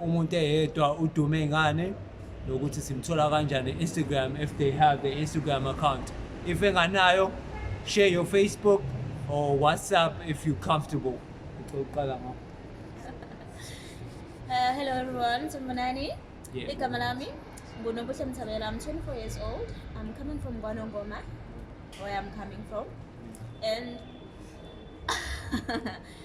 umuntu eyedwa udume ngani nokuthi simthola kanjani Instagram if they have the Instagram account if enganayo share your Facebook or WhatsApp if you comfortable uqala ngakho Uh, hello everyone, Tumanani. Yeah. Igama lami nguNobuhle Mthabela. I'm 24 years old. I'm coming from Gwanongoma, where I'm coming from. And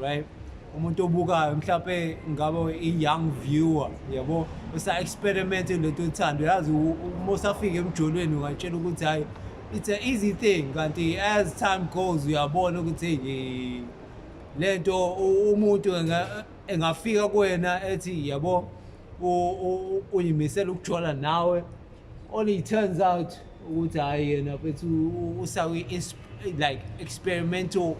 right umuntu obukayo mhlawumbe ngabe i-young viewer yabo usa-experimente lento ethando yazi uma usafika emjolweni ungatshela ukuthi hhayi it's an easy thing kanti as time goes uyabona ukuthi hey le nto umuntu engafika kuwena ethi yabo uyimisela ukujola nawe Only it turns out ukuthi hhayi yena mfethu usawi like experimental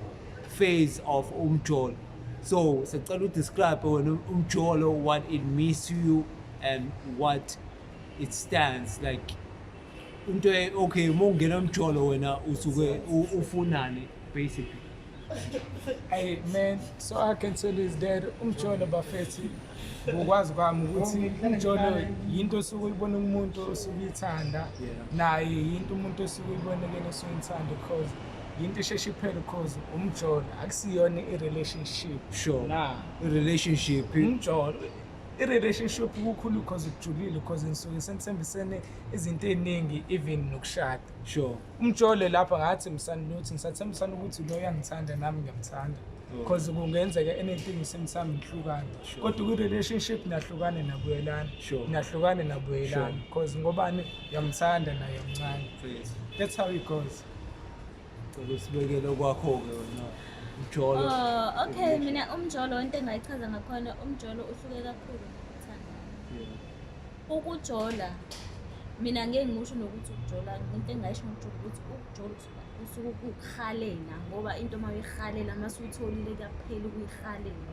phase of umjolo so sicela udescribe wena umjolo what it means to you and what it stands like into okay uma ungena umjolo wena usuke ufunani basically Hey man, so I can tell is that umjolo bafethi ngokwazi kwami ukuthi umjolo yinto osuke uyibona umuntu osuke uyithanda naye yinto umuntu osuke uyibonekela osuke uyithanda because yinto isheshe iphele because umjolo akusiyona i-relationship sure na i-relationship umjolo i-relationship kukhulu because kujulile because ngisuke senithembisene izinto ey'ningi even nokushada sure umjole lapha ngathi msanluthi ngisathembisana ukuthi lo uyangithanda nami ngiyamthanda mm. because kungenzeka anything simsami ngihlukane kodwa kwi-relationship nahlukane nabuyelana nahlukane nabuyelana because ngobani uyamthanda naye mncane that's how it goes usibekele kwakho-ke wena umjolo oh, okay mina umjolo into engayichaza ngakhona umjolo uhluke kakhulu Ukujola mina ngeke ngikusho nokuthi ukujola into engayisho ngokujola ukuthi ukujola usuke ukuhalela ngoba into uma uyihalela uma suyitholile kuyaphela ukuyihalela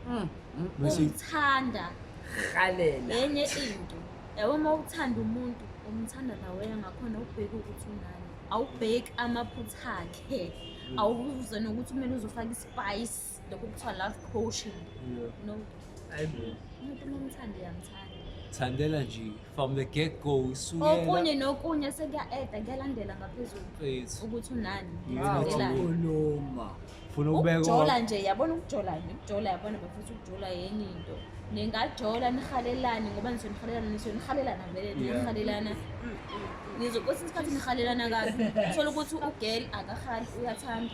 hmm, hmm, hmm. ukuthanda halela enye into yabo uma uthanda umuntu umthanda nawe ngakhona ubheke ukuthi unani awubheki amaphutha akhe awubuze nokuthi kumele uzofaka ispayisi lokhu kuthiwa love coaching no ayibo umuntu uma umthanda uyamthanda thandela nje from the get go okunye isukela nokunye sekuya-eda kuyalandela ngaphezulu Mfethu, ukuthi unani you need to Thandelani. kukhuluma funa ukubeka ukujola nje yabona ukujola nje ukujola yabona bafisa ukujola yenye into ningajola nihalelane ngoba nisuke nihalelana nisuke nihalelana vele Yeah. nihalelana nizokwesinye isikhathi nihalelana kabi uthole ukuthi ugel akahali uyathanda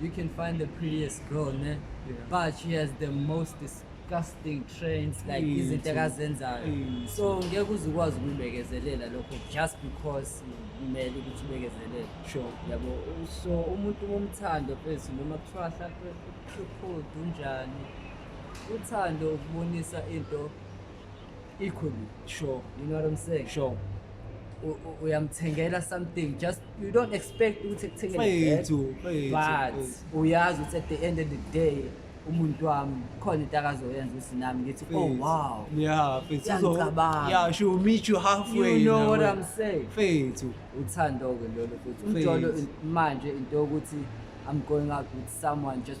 You can find the prettiest girl, ne? Yeah. But she has the most disgusting trains, like Mm, izinto true. akazenzayo. Mm. So ngeke uze ukwazi ukubekezelela lokho just because kumele ukuthi ubekezelele. Sure. Yabo, so umuntu umthando phezu noma kuthiwa hlampe ukhuphudu unjani. Uthando ukubonisa into equally sure you know what i'm saying sure uyamthengela something just you don't expect ukuthi kuthengele but uyazi ukuthi at the end of the day umuntu wami khona into akazoyenza ukuthi nami ngithi oh wow yeah fethu yeah she will meet you halfway you know what i'm saying fethu uthando ke lolo futhi umjolo manje into yokuthi i'm going out with someone just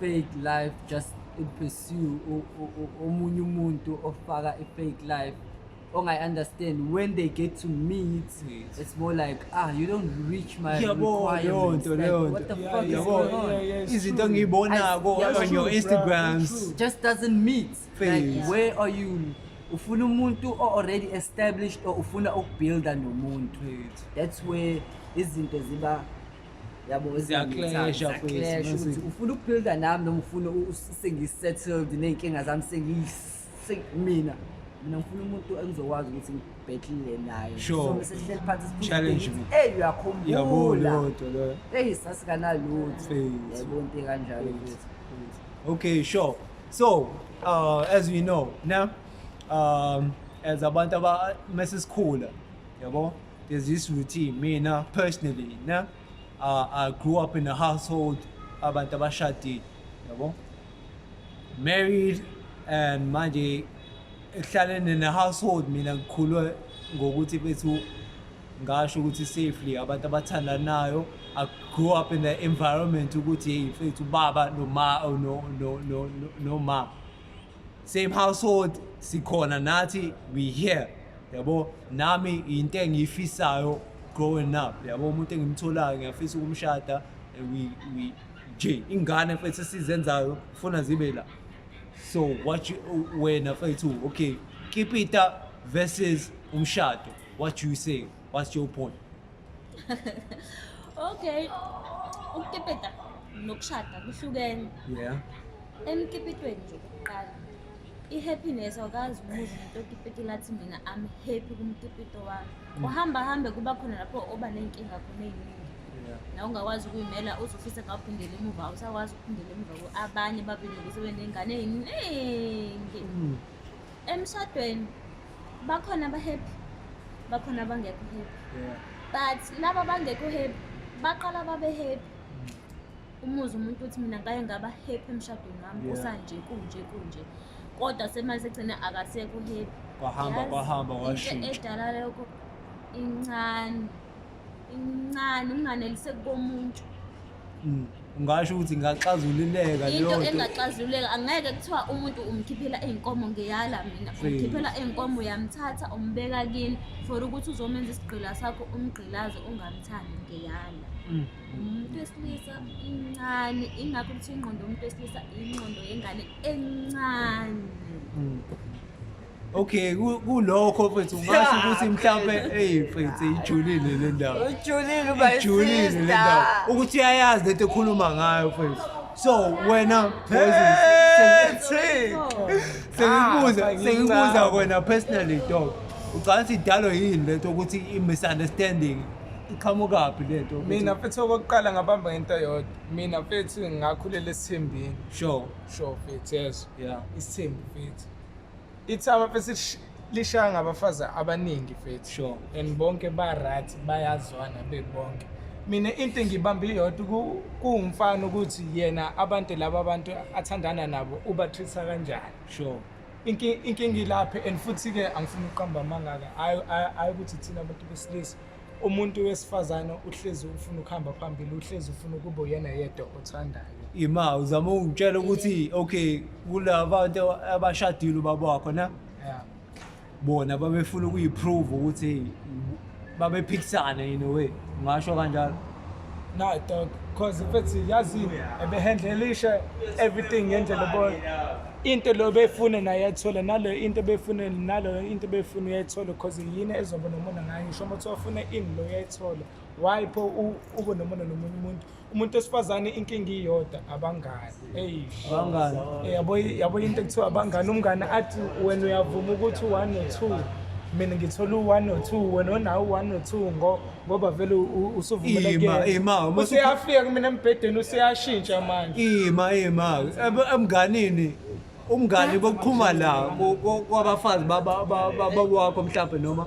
fake life just in pursue omunye umuntu ofaka a fake life ongayi understand when they get to meet yes. it's more like ah you don't reach my requirements like, leyo nto what the yeah, fuck yeah, is going on yeah, yeah, izinto engiyibonako on your instagrams just doesn't meet Face. like yeah. where are you ufuna umuntu o already established or ufuna ukubuilda nomuntu that's where izinto ziba yabo Siyaklesha mfethu, mase- ukuthi ufuna ukubuilda nami noma ufuna u- u- sengisettled ney'nkinga zami sengiyi- se- mina mina ngifuna umuntu engizokwazi ukuthi ngibhethile naye Sure. So, bese sihleli phansi siphinde Challenge sibheke me. ukuthi, eyi uyakhumbula Yabona lodwa loyo. eyi sasikanalutho Faith. yayibona into ekanjalo mfethu. Okay, sure. So, uh, as we know, now, um, as abantu aba mesisikhula, yabo, There's this routine mina personally ne uh, I grew up in a household abantu abashadile yabo married and manje ehlalene ne household mina ngikhulwe ngokuthi bethu ngasho ukuthi safely abantu abathandanayo I grew up in the environment ukuthi hey mfethu baba noma no no no no mama same household sikhona nathi we here yabo nami into engiyifisayo growing up yabo umuntu engimtholayo ngiyafisa ukumshada and we we nje ingane mfethu esizenzayo funa zibe la so what you wena mfethu okay kipita versus umshado what you say what's your point okay ukukipita nokushada kuhlukene yeah emkipitweni nje kuqala i-happiness awukazi umuzi umuntu okipitile athi mina am happy kumkipito wami mm. uhamba hambe kuba khona lapho oba ney'nkinga khona ey'ningi na ungakwazi ukuyimela uzofisa ngaphindela emuva awusakwazi ukuphindela emuva abanye babelekise beney'ngane ey'ningi mm. emshadweni bakhona abahappy bakhona abangekho happy yeah. but laba bangekho happy baqala babe happy mm. umuzi umuntu uthi mina ngake ngaba happy emshadweni wami yeah. kusanje kunje kunje kodwa semali sekugcine akasekho happy kwahamba kwahamba washintsha edala lokho incane incane unganelise komuntu mm. ungasho ukuthi ingaxazululeka into engaxazululeka angeke kuthiwa umuntu umkhiphela iy'nkomo ngeyala mina umkhiphela iy'nkomo uyamthatha umbeka kini for ukuthi uzomenza isigqila sakho umgqilaze ungamthandi ngeyala mm. umuntu wesilisa incane ingakho ukuthi ingqondo yomuntu wesilisa ingqondo yengane encane mm. Okay, ku- kulokho mfethu ungasho ukuthi mhlawumbe eyi mfethu ijulile le ndawo. Ujulile uba Ijulile le ndawo. Ukuthi uyayazi lento ekhuluma ngayo mfethu. So wena Poison, sengi- sengikubuza Ah, sengikubuza wena personally dog. Ucabanga ukuthi idalwa yini lento ukuthi i-misunderstanding iqhamukaphi lento? ukuthi- mina mfethu okokuqala ngabamba ngento yodwa mina mfethu ngakhulela esithembini Sure. sure mfethu yeso Yeah. isithembu mfethu Ithaba bese lishaya ngabafazi abaningi fethu sure. and bonke ba-right bayazwana bebonke mina into engibambe iyodwa ku- kuwumfana ukuthi yena abantu laba abantu athandana nabo ubathwisa kanjani sure Inki- inkinga ilaphe and futhi-ke angifuni ukuqamba amangaka hhayi hhayi- hhayi ukuthi thina abantu besilisa umuntu wesifazane uhlezi ufuna ukuhamba phambili uhlezi ufuna ukuba uyena yedwa othandayo ima uzama ungitshela ukuthi okay kula bantu abashadile ubaba wakho na yeah. bona babefuna ukuyiprove ukuthi babephikisane in a way ngasho kanjalo Nah, dog. Cause if it's yazini ebehandlelisha everything ngendlela boy. Into lo befune naye yathola nalo into befune nalo into befune yayithola cause yini ezoba nomona ngayo ngisho uma uthofuna ini lo yayithola. Why pho ube nomona nomunye umuntu? Umuntu osifazane inkingi iyodwa abangani. abangani eh, yabo yabo into ekuthiwa abangani umngane athi wena uyavuma ukuthi one or two mina ngithola u-one or two wena onawo u-one or two ngoba vele usuvumelekeuseafika kumina embhedeni useyashintsha manje ima ima emnganini umngani bokuqhuma la kwabafazi babawakho mhlawumbe noma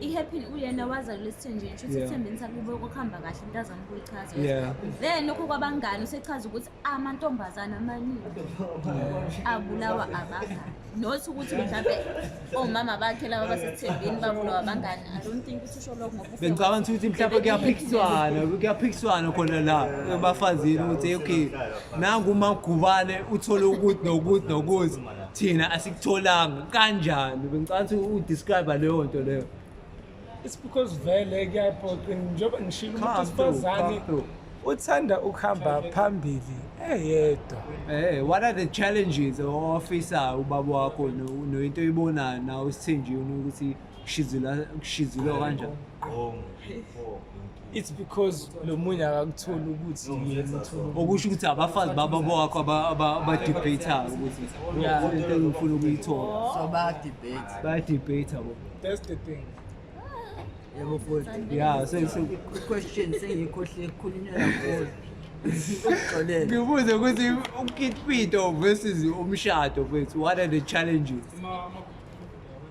i-happy uyena wazalula esithenjini kusho ukuthi ekuthembeni sakhe kube kokuhamba kahle umntazana ukuyichaza then lokho kwabangani usechaza ukuthi amantombazane amaningi abulawa abangani not ukuthi mhlawumbe omama bakhe laba basesithembeni babulawa abangani i don't think ukuthi usho lokho ngoba bengicabanga ukuthi mhlawumbe kuyaphikiswana kuyaphikiswana khona la ebafazini ukuthi okay nangu umagubane uthole ukuthi nokuthi nokuthi thina asikutholanga kanjani bengicatha udescribe leyo nto leyo it's because vele kuyaphoqa njengoba ngishilo umuntu wesifazane uthanda ukuhamba phambili eyedwa hey eh, what are the challenges ofisa ubaba wakho noyinto oyibonayo nawe sithenjini ukuthi kushizilwa kanjani it's because lo munye akakutholi ukuthi yena uthole okusho ukuthi abafazi baba bowakho aba- aba- abadebatayo ukuthi Yeah. "Oh, into engifuna ukuyithola so bayadebate bayadebata bo that's the thing yebo futhi ya so so- question sengiyikhohle ekhulunywa kakhulu uxolele ngibuze ukuthi ukitpito versus umshado kwethu what are the challenges Ma- ma-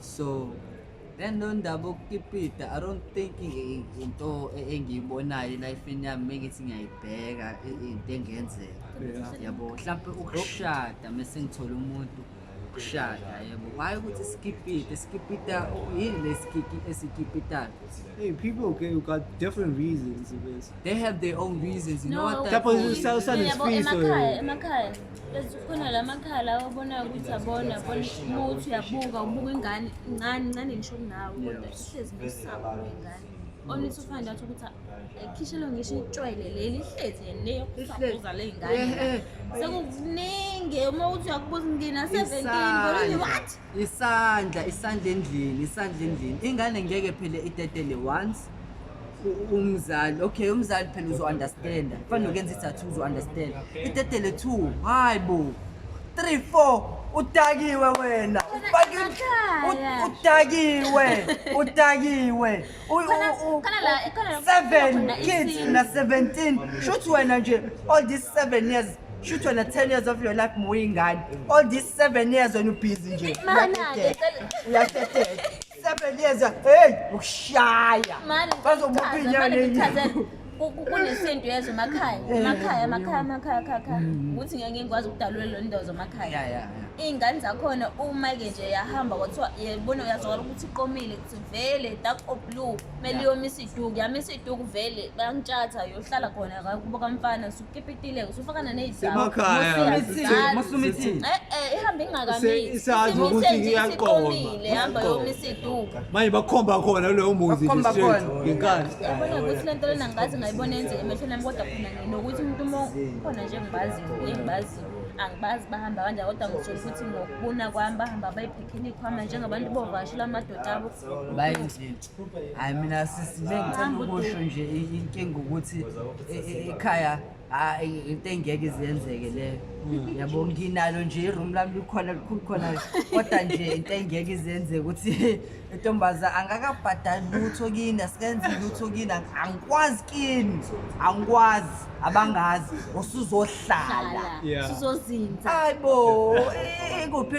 so then lo ndaba okukipita i don't think into e, engiyibonayo elifeni yami mengithi ngiyayibheka into engenzeka yabo mhlawumpe ukushada mese ngithole umuntu ukushada yebo why ukuthi sikipite sikipita yini lesikiki esikipitayo hey people okay you got different reasons they have their own reasons you know what that no, Khona la makhala obonayo ukuthi abona bona umuthi uyabuka ubuka ingane incane incane ngisho kunawe kodwa ihlezi ngosaba ingane onisa ufana ndathi ukuthi ekhishelo ngisho itshwele leli ihlezi yena yokusabuza le ngane sekukuningi uma uthi uyakubuza ingina 17 what isandla isandla endlini isandla endlini ingane ngeke phele itetele once u- umzali okay umzali phela uzo-understanda kufanele ukenza ithathu uzo-understanda itetele two hayi bo three four udakiwe wena ufake Ekhaya. udakiwe udakiwe seven kids na 17 shuthi wena nje all these seven years shuthi wena 10 years of your life muyingane all these seven years wena ubhizi nje uyateteka seven years hey ukushaya bazomuphinya nini kunesintu yezwe emakhaya emakhaya emakhaya emakhaya khakha ukuthi ngeke ngikwazi ukudalula lo ndozo emakhaya iy'ngane zakhona uma-ke nje yahamba kwathiwa yebona uyazwakala ukuthi iqomile vele dark or blue kumele yomisa iduku yamisa iduku vele bayantshatha yohlala khona kakubo kamfana sukipitile usufakana Semakhaya, sise- nezidamu Masumithi. eh eh ihamba ingakamisi Isazi Imise ukuthi nje iyaqoma. isiqomile ihamba yomisa iduku manje bakhomba khona kuloyo muzi nje Bakhomba straight khona. ngenkani yabona ukuthi le nto lena ngazi ngayibona yenzeka emehlweni ami kodwa khona nginokuthi umuntu uma khona nje engibaziyo engibaziyo angibazi bahamba kanjani kodwa ngisho ukuthi ngokubona kwami bahamba bayiphi inikhwama njengabantu bovasho lamadoda abo baye nje hayi mina sisi bengithanda ukusho nje inkinga ukuthi e, e, ekhaya hayi into engeke izenzeke leyo hmm. yabo nginalo nje iroom lami likhona likhulu khona kodwa nje into engeke izenzeke ukuthi intombaza angakabhadali lutho kini asikenzi lutho kini angikwazi kini angikwazi abangazi usuzohlala usuzozinza hayi bo ikuphi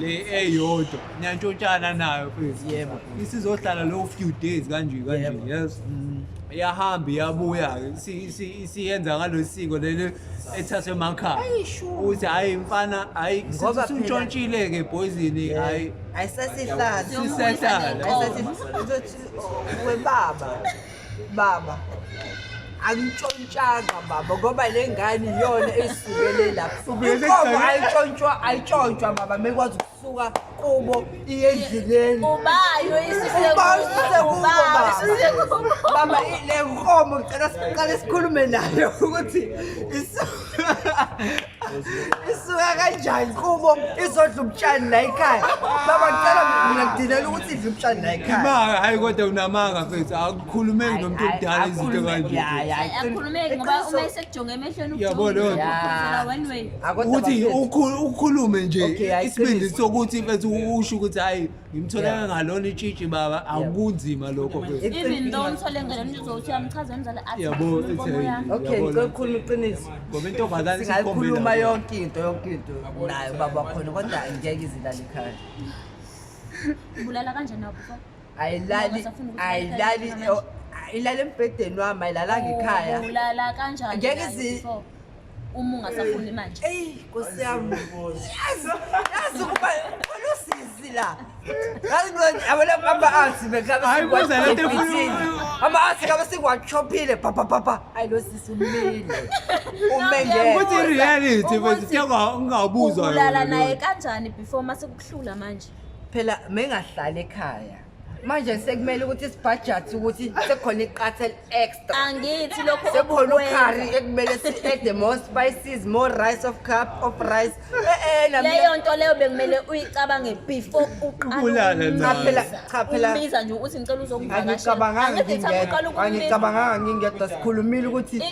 le eyodwa niyantshotshana nayo mfethu Yebo. isizohlala low few days kanje kanje Yebo. yes Mm. iyahamba iyabuya-ke Isi- isi- isiyenza ngalo siko leli ethathwe emakhaya ukuthi hhayi mfana hhayi Ngoba phela- sintshontshile-ke boyzini hhayi Ayisesihlala. Sisehlala. Ayisesihlala. Uzothi, "Oh, webaba. baba angitshontshanga baba ngoba le ngane iyona eyisukele lapho inkomo ayitshontshwa ayitshontshwa baba mekwazi ukusuka kubo iye endleleni ubayo baba le nkomo ngicela siqale sikhulume nayo ukuthi isuka kanjani kubo izodla ubutshani la ekhaya baba ngicela mina ngidilela ukuthi idle ubutshani la ekhaya imanga hayi kodwa unamanga mfethu akukhulumeki nomuntu omdala izinto kanje akhulumeki ngoba uma esekujonge emehlweni yabo leyo ukuthi ukhulume nje isibindi sokuthi mfethu usho ukuthi hayi ngimthole Yeah. ngalona itshitshi baba akunzima lokho mfethu. It's even though simple. umthole ngalo mntu uzothi uyamchaza umzali athi Yabo, "Ngifuna inkomo it's a- yami." okay Yabona. ngicela ukukhuluma iqiniso ngoba intombazane singayikhuluma sikhombela- yonke into yonke into nayo baba khona kodwa angeke izilale ekhaya ubulala kanjani nawo before ayilali Ngoba safuna ukuthi ayilali ikhaya. ayilali embhedeni wami ayilalanga ekhaya ubulala kanjani Ngeke naye zi- before? uma ungasafuni manje eyi nkosi yami yazi yazi ukuba olusizi la yazi manje abona ama arts bekabe Hayi, kuze le nto efuna- ama arts kabe singwachophile pha pha pha pha ayi lo sisi umile ume ngeke Ukuthi i-reality mfethu ke unga- ungabuzwa ubulala yona naye lento. kanjani before masekuhlula manje phela mengahlali ekhaya manje sekumele ukuthi sibhajathi ukuthi sekukhona iqatha eli-extra angithi lokho sekukhona ukhari ekumele si-ede more spices more rice of cup of rice eh, eh, leyo nto leyo bekumele uyicabange before uqalaphela nje ukuthi ngicela uzongivakasheangicabanganga ngingedwa sikhulumile ukuthi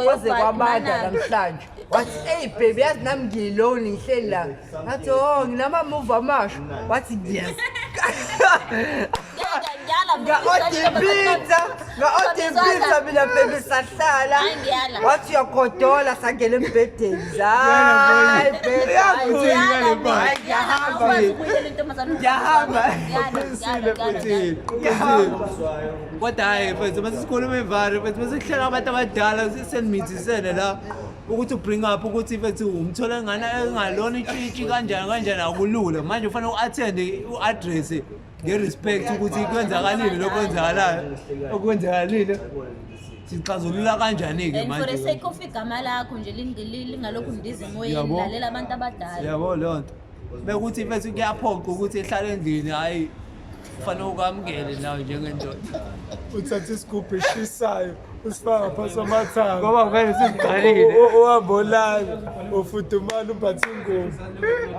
kwaze kwabanda namhlanje wathi eyi baby yazi nami ngiyiloni ngihleli la ngathi o oh, nginamamuva amasha wathi yes ngaodipitsa ngaodipitsa mina baby sahlala wathi uyagodola sangena embhedeni zayi babyngiyahamba kodwa hhayi mfethu uma sesikhuluma imvalo mfethu uma sekuhleka abantu abadala senimithizisene la ukuthi ubring up ukuthi mfethu umthola ngana engalona itshitshi kanjani kanjani akulula manje ufanele u-athende u-adresse nge-respect ukuthi kwenzakalile lokho kwenzakalayo okwenzakalile sixazulula kanjani-ke and for the sake of igama lakho nje ling- li- lingalokhu ndize emoyeni Yabo. lalela abantu abadala yabo leyo nto bekuthi mfethu kuyaphoqa ukuthi ehlale endlini hhayi kufanele ukwamukele nawe njengendoda uthatha isigubhu eshisayo usifaka phasi amathanga ngoba vele sizigqalile uhamba olala ufudumala umbatha ingubo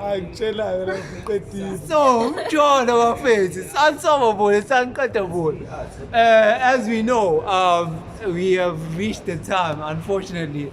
hayi ngitshelayo lapho uqedile so umjolo bafethu sansobo bona saniqeda bona um as we know um we have reached the time unfortunately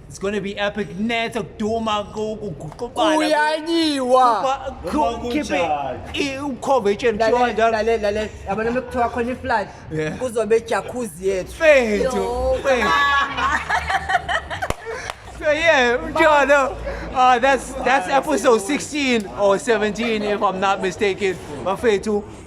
It's gonna be epic net ukuduma kuguqubana. Uyanyiwa. Khiphe ukhove etsheni kuthiwa njalo. Lalela lalela yabona uma kuthiwa khona iflight kuzobe ejacuzzi yethu. Fethu. So yeah, Jono. Uh, that's that's episode 16 or 17 if I'm not mistaken. Bafethu